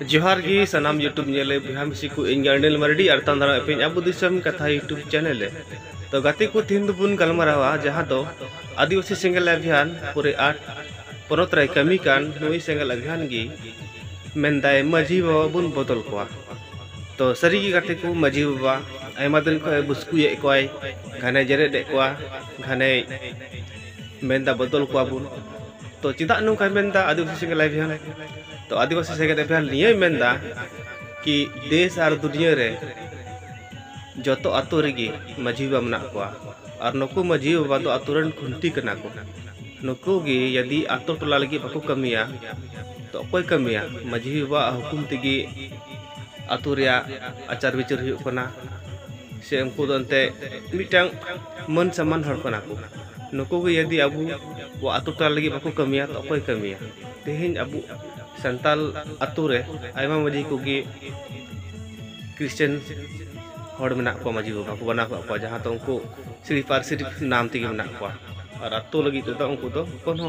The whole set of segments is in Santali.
ᱡᱚᱦᱟᱨ ᱜᱮ ᱥᱟᱱᱟᱢ ᱭᱩᱴᱩᱵᱽ ᱧᱮᱞ ᱞᱟᱹᱜᱤᱫ ᱵᱚᱭᱦᱟ ᱢᱤᱥᱤ ᱠᱚ ᱤᱧ ᱜᱟᱨᱰᱮᱱ ᱢᱟᱨᱰᱤ ᱟᱨ ᱛᱟᱱ ᱫᱟᱨᱟ ᱮᱯᱮᱧ ᱟᱵᱚ ᱫᱤᱥᱚᱢ ᱠᱟᱛᱷᱟ ᱭᱩᱴᱩᱵᱽ ᱪᱮᱱᱮᱞ ᱨᱮ ᱛᱚ ᱜᱟᱛᱮ ᱠᱚ ᱛᱤᱦᱤᱧ ᱫᱚᱵᱚᱱ ᱜᱟᱞᱢᱟᱨᱟᱣᱟ ᱡᱟᱦᱟᱸ ᱫᱚ ᱟᱹᱫᱤᱵᱟᱹᱥᱤ ᱥᱮᱸᱜᱮᱞ ᱟᱵᱷᱤᱭᱟᱱ ᱯᱩᱨᱮ ᱟᱴ ᱯᱚᱱᱚᱛ ᱨᱮ ᱠᱟᱹᱢᱤ ᱠᱟᱱ ᱱᱩᱭ ᱥᱮᱸᱜᱮᱞ ᱟᱵᱷᱤᱭᱟᱱ ᱜᱮ ᱢᱮᱱᱫᱟᱭ ᱢᱟᱹᱡᱷᱤ ᱵᱟᱵᱟ ᱵᱚᱱ ᱵᱚᱫᱚᱞ ᱠᱚᱣᱟ ᱛᱚ ᱥᱟᱹᱨᱤ ᱜᱮ ᱜᱟᱛᱮ ᱠᱚ ᱢᱟᱹᱡᱷᱤ ᱵᱟᱵᱟ ᱟᱭᱢᱟ ᱫᱤᱱ ᱠᱷᱚᱱ ᱵᱩᱥᱠᱩᱭᱮᱫ ᱠᱚᱣᱟᱭ ᱜᱷᱟᱱᱮ ᱡᱮᱨᱮᱫ ᱮᱫ ᱠᱚᱣᱟ ᱜᱷᱟᱱᱮ ᱢᱮᱱᱫᱟ ᱵᱚᱫᱚᱞ ᱠᱚᱣᱟ ᱵᱚᱱ ᱛᱚ ᱪᱮᱫᱟᱜ ᱱᱚᱝᱠᱟᱭ ᱢᱮᱱᱫᱟ ᱟᱹᱫᱤᱵᱟᱹᱥᱤ ᱥᱮᱸᱜᱮᱞ ᱟᱵᱷᱤᱭᱟᱱ ᱛᱚ ᱟᱹᱫᱤᱵᱟᱹᱥᱤ ᱥᱮᱜᱮᱫ ᱮᱯᱷᱮᱭᱟᱨ ᱱᱤᱭᱟᱹᱭ ᱢᱮᱱᱫᱟ ᱠᱤ ᱫᱮᱥ ᱟᱨ ᱫᱩᱱᱤᱭᱟᱹ ᱨᱮ ᱡᱚᱛᱚ ᱟᱛᱳ ᱨᱮᱜᱮ ᱢᱟᱹᱡᱷᱤ ᱵᱟᱵᱟ ᱢᱮᱱᱟᱜ ᱠᱚᱣᱟ ᱟᱨ ᱱᱩᱠᱩ ᱢᱟᱹᱡᱷᱤ ᱵᱟᱵᱟ ᱫᱚ ᱟᱛᱳ ᱨᱮᱱ ᱠᱷᱩᱱᱴᱤ ᱠᱟᱱᱟ ᱠᱚ ᱱᱩᱠᱩ ᱜᱮ ᱡᱩᱫᱤ ᱟᱛᱳ ᱴᱚᱞᱟ ᱞᱟᱹᱜᱤᱫ ᱵᱟᱠᱚ ᱠᱟᱹᱢᱤᱭᱟ ᱛᱚ ᱚᱠᱚᱭ ᱠᱟᱹᱢᱤᱭᱟ ᱢᱟᱹᱡᱷᱤ ᱵᱟᱵᱟᱣᱟᱜ ᱦᱩᱠᱩᱢ ᱛᱮᱜᱮ ᱟᱛᱳ ᱨᱮᱭᱟᱜ ᱟᱪᱟᱨ ᱵᱤᱪᱟᱹᱨ ᱦᱩᱭᱩᱜ ᱠᱟᱱᱟ ᱥᱮ ᱩᱱᱠᱩ ᱫᱚ ᱮᱱᱛᱮ ᱢᱤᱫᱴᱟᱝ ᱢᱟᱹᱱ ᱥᱟᱢᱟᱱ ᱦᱚᱲ ᱠᱟᱱᱟ ᱠᱚ ᱱᱩᱠᱩ ᱜᱮ ᱡᱩᱫᱤ ᱟᱵᱚ ᱟᱛᱳ ᱴᱚᱞᱟ ᱞᱟᱹᱜᱤᱫ ᱵᱟᱠᱚ ᱠᱟᱹᱢᱤᱭᱟ ᱛᱚ ᱚᱠᱚᱭ ᱠᱟᱹᱢᱤᱭᱟ ᱛᱮᱦᱮᱧ ᱟᱵᱚ ᱥᱟᱱᱛᱟᱞ ᱟᱛᱳ ᱨᱮ ᱟᱭᱢᱟ ᱢᱟᱹᱡᱷᱤ ᱠᱚᱜᱮ ᱠᱨᱤᱥᱪᱟᱱ ᱦᱚᱲ ᱢᱮᱱᱟᱜ ᱠᱚᱣᱟ ᱢᱟᱹᱡᱷᱤ ᱵᱟᱵᱟ ᱠᱚ ᱵᱮᱱᱟᱣ ᱠᱟᱜ ᱠᱚᱣᱟ ᱡᱟᱦᱟᱸ ᱫᱚ ᱩᱱᱠᱩ ᱥᱤᱨᱤ ᱯᱟᱹᱨᱥᱤ ᱱᱟᱢ ᱛᱮᱜᱮ ᱢᱮᱱᱟᱜ ᱠᱚᱣᱟ ᱟᱨ ᱟᱛᱳ ᱞᱟᱹᱜᱤᱫ ᱛᱮᱫᱚ ᱩᱱᱠᱩ ᱫᱚ ᱠᱳᱱᱳ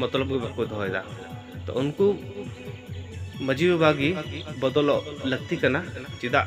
ᱢᱚᱛᱞᱚᱵ ᱜᱮ ᱵᱟᱠᱚ ᱫᱚᱦᱚᱭᱮᱫᱟ ᱛᱚ ᱩᱱᱠᱩ ᱢᱟᱹᱡᱷᱤ ᱵᱟᱵᱟ ᱜᱮ ᱵᱚᱫᱚᱞᱚᱜ ᱞᱟᱹᱠᱛᱤ ᱠᱟᱱᱟ ᱪᱮᱫᱟᱜ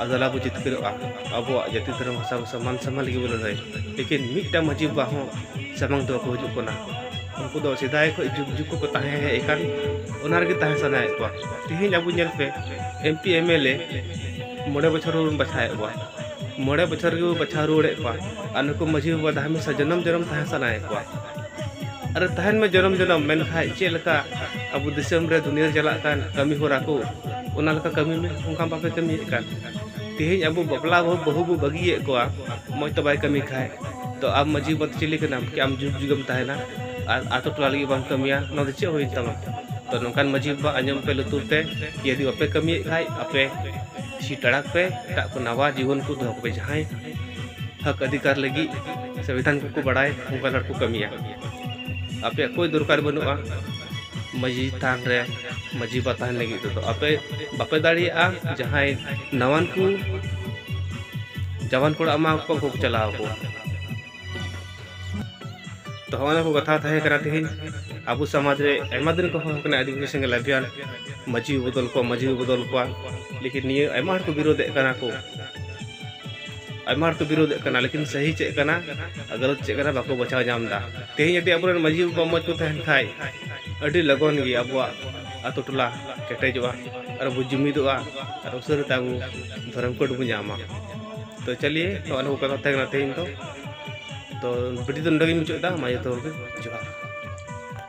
ᱟᱫᱚ ᱟᱞᱟᱝ ᱵᱚ ᱡᱤᱛᱠᱟᱹᱨᱚᱜᱼᱟ ᱟᱵᱚᱣᱟᱜ ᱡᱟᱹᱛᱤ ᱫᱷᱚᱨᱚᱢ ᱵᱷᱟᱥᱟ ᱵᱷᱟᱥᱟ ᱢᱟᱱ ᱥᱟᱢᱟᱱ ᱞᱟᱹᱜᱤᱫ ᱵᱚ ᱞᱟᱹᱲᱦᱟᱹᱭ ᱞᱮᱠᱤᱱ ᱢᱤᱫᱴᱟᱝ ᱢᱟᱺᱡᱷᱤ ᱵᱟᱵᱟ ᱦᱚᱸ ᱥᱟᱢᱟᱝ ᱛᱮ ᱵᱟᱠᱚ ᱦᱤᱡᱩᱜ ᱠᱟᱱᱟ ᱩᱱᱠᱩ ᱫᱚ ᱥᱮᱫᱟᱭ ᱠᱷᱚᱱ ᱡᱩᱜᱽ ᱡᱩᱜᱽ ᱠᱷᱚᱱ ᱠᱚ ᱛᱟᱦᱮᱸ ᱦᱮᱡ ᱟᱠᱟᱱ ᱚᱱᱟ ᱨᱮᱜᱮ ᱛᱟᱦᱮᱸ ᱥᱟᱱᱟᱭᱮᱫ ᱠᱚᱣᱟ ᱛᱮᱦᱮᱧ ᱟᱵᱚ ᱧᱮᱞ ᱯᱮ M P M L A ᱢᱚᱬᱮ ᱵᱚᱪᱷᱚᱨ ᱵᱚᱱ ᱵᱟᱪᱷᱟᱣᱮᱫ ᱠᱚᱣᱟ ᱢᱚᱬᱮ ᱵᱚᱪᱷᱚᱨ ᱨᱮᱜᱮ ᱵᱚᱱ ᱵᱟᱪᱷᱟᱣ ᱨᱩᱣᱟᱹᱲᱮᱫ ᱠᱚᱣᱟ ᱟᱨ ᱱᱩᱠᱩ ᱢᱟᱺᱡᱷᱤ ᱵᱟᱵᱟ ᱫᱚ ᱦᱟᱢᱮᱥᱟ ᱡᱚᱱᱚᱢ ᱡᱚᱱᱚᱢ ᱛᱟᱦᱮᱸ ᱥᱟᱱᱟᱭᱮᱫ ᱠᱚᱣᱟ ᱟᱨ ᱛᱟᱦᱮᱱ ᱢᱮ ᱡᱚᱱᱚᱢ ᱡᱚᱱᱚᱢ ᱢᱮᱱ ᱠᱷᱟᱡ ᱪᱮᱫ ᱞᱮᱠᱟ ᱟᱵᱚ ᱫᱤᱥᱚᱢ ᱨᱮ ᱫᱩᱱᱤᱭᱟᱹ ᱨᱮ ᱪᱟᱞᱟᱜ ᱠᱟᱱ ᱠᱟᱹᱢᱤ ᱦᱚᱨᱟ ᱠᱚ ᱚᱱᱟ ᱞᱮᱠᱟ ᱠᱟᱹᱢᱤ ᱢᱮ ᱚᱱᱠᱟ ᱵᱟᱯᱮ ᱠᱟᱹᱢᱤᱭᱮᱫ ᱠᱟᱱ ᱛᱮᱦᱮᱧ ᱟᱵᱚ ᱵᱟᱯᱞᱟ ᱵᱟᱹᱦᱩ ᱵᱟᱹᱦᱩ ᱵᱚ ᱵᱟᱹᱜᱤᱭᱮᱫ ᱠᱚᱣᱟ ᱢᱚᱡᱽ ᱛᱮ ᱵᱟᱭ ᱠᱟᱹᱢᱤ ᱠᱷᱟᱡ ᱛᱚ ᱟᱢ ᱢᱟᱹᱡᱷᱤ ᱵᱟᱵᱟ ᱪᱤᱞᱤ ᱠᱟᱱᱟᱢ ᱠᱤ ᱟᱢ ᱡᱩᱜᱽ ᱡᱩᱜᱮᱢ ᱛᱟᱦᱮᱱᱟ ᱟᱨ ᱟᱛᱳ ᱴᱚᱞᱟ ᱞᱟᱹᱜᱤᱫ ᱵᱟᱢ ᱠᱟᱹᱢᱤᱭᱟ ᱱᱚᱣᱟ ᱫᱚ ᱪᱮᱫ ᱦᱩᱭᱮᱱ ᱛᱟᱢᱟ ᱛᱚ ᱱᱚᱝᱠᱟᱱ ᱢᱟᱹᱡᱷᱤ ᱵᱟᱵᱟ ᱟᱸᱡᱚᱢ ᱯᱮ ᱞᱩᱛᱩᱨ ᱛᱮ ᱡᱩᱫᱤ ᱵᱟᱯᱮ ᱠᱟᱹᱢᱤᱭᱮᱫ ᱠᱷᱟᱡ ᱟᱯᱮ ᱥᱤᱴᱟᱲᱟᱜ ᱯᱮ ᱮᱴᱟᱜ ᱠᱚ ᱱᱟᱣᱟ ᱡᱤᱵᱚᱱ ᱠᱚ ᱫᱚᱦᱚ ᱠᱚᱯᱮ ᱡᱟᱦᱟᱸᱭ ᱦᱚᱠ ᱚᱫᱷᱤᱠᱟᱨ ᱞᱟᱹᱜᱤᱫ ᱥᱚᱝᱵᱤᱫᱷᱟᱱ ᱠᱚᱠᱚ ᱵᱟᱲᱟᱭ ᱚᱱᱠᱟᱱ ᱦᱚᱲ ᱠᱚ ᱠᱟᱹᱢᱤᱭᱟ ᱟᱯᱮᱭᱟᱜ ᱠᱳᱭ ᱫᱚᱨᱠᱟᱨ ᱵᱟᱹᱱᱩᱜᱼᱟ ᱢᱟᱺᱡᱷᱤ ᱛᱷᱟᱱ ᱨᱮ ᱢᱟᱺᱡᱷᱤ ᱵᱟᱵᱟ ᱛᱟᱦᱮᱱ ᱞᱟᱹᱜᱤᱫ ᱛᱮᱫᱚ ᱟᱯᱮ ᱵᱟᱯᱮ ᱫᱟᱲᱮᱭᱟᱜᱼᱟ ᱡᱟᱦᱟᱸᱭ ᱱᱟᱣᱟᱱ ᱠᱚ ᱡᱟᱣᱟᱱ ᱠᱚᱲᱟ ᱮᱢᱟ ᱠᱚ ᱩᱱᱠᱩ ᱠᱚ ᱪᱟᱞᱟᱣ ᱠᱚ ᱛᱚ ᱦᱚᱸᱜᱼᱚᱱᱟ ᱠᱚ ᱠᱟᱛᱷᱟ ᱛᱟᱦᱮᱸ ᱠᱟᱱᱟ ᱛᱮᱦᱮᱧ ᱟᱵᱚ ᱥᱚᱢᱟᱡᱽ ᱨᱮ ᱟᱭᱢᱟ ᱫᱤᱱ ᱠᱚ ᱦᱚᱦᱚ ᱠᱟᱱᱟ ᱟᱹᱫᱤᱵᱟᱹᱥᱤ ᱥᱮᱸᱜᱮᱞ ᱟᱵᱷᱤᱭᱟᱱ ᱢᱟᱺᱡᱷᱤ ᱵᱚᱫᱚᱞ ᱠᱚᱣᱟ ᱢᱟᱺᱡᱷᱤ ᱵᱚᱫᱚᱞ ᱠᱚᱣᱟ ᱞᱮᱠᱤᱱ ᱱᱤᱭᱟᱹ ᱟᱭᱢᱟ ᱦᱚᱲ ᱠᱚ ᱵᱤᱨᱳᱫᱮᱫ ᱠᱟᱱᱟ ᱠᱚ ᱟᱭᱢᱟ ᱦᱚᱲ ᱠᱚ ᱵᱤᱨᱳᱫᱮᱫ ᱠᱟᱱᱟ ᱞᱮᱠᱤᱱ ᱥᱟᱹᱦᱤ ᱪᱮᱫ ᱠᱟᱱᱟ ᱟᱨ ᱜᱟᱞᱚᱛ ᱪᱮᱫ ᱠᱟᱱᱟ ᱵᱟᱠᱚ ᱵᱟᱪᱷᱟᱣ ᱧᱟᱢ ᱮᱫᱟ ᱛᱮᱦᱮᱧ ᱡᱩᱫᱤ ᱟᱵᱚᱨᱮᱱ ᱢᱟᱺᱡᱷᱤ ᱵᱟᱵᱟ ᱢᱚᱡᱽ ᱠᱚ ᱛᱟᱦᱮᱱ ᱠᱷᱟᱡ ᱟᱹᱰᱤ ᱞᱚᱜᱚᱱ ᱜᱮ ᱟᱵᱚᱣᱟᱜ ᱟᱛᱳ ᱴᱚᱞᱟ ᱠᱮᱴᱮᱡᱚᱜᱼᱟ ᱟᱨ ᱵᱚ ᱡᱩᱢᱤᱫᱚᱜᱼᱟ ᱟᱨ ᱩᱥᱟᱹᱨᱟ ᱛᱮ ᱟᱵᱚ ᱫᱷᱚᱨᱚᱢ ᱠᱳᱰ ᱵᱚ ᱧᱟᱢᱟ ᱛᱚ ᱪᱟᱞᱤᱭᱮ ᱱᱚᱣᱟ ᱱᱩᱠᱩ ᱠᱟᱛᱷᱟ ᱛᱟᱦᱮᱸ ᱠᱟᱱᱟ ᱛᱮᱦᱮᱧ ᱫᱚ ᱛᱚ ᱵᱷᱤᱰᱤᱭᱳ ᱫᱚ ᱱᱚᱰᱮ ᱜᱮᱧ ᱢᱩᱪᱟᱹᱫ ᱮᱫᱟ ᱢᱟ ᱡᱚᱛᱚ ᱦᱚᱲ ᱜᱮ ᱡᱚᱦᱟᱨ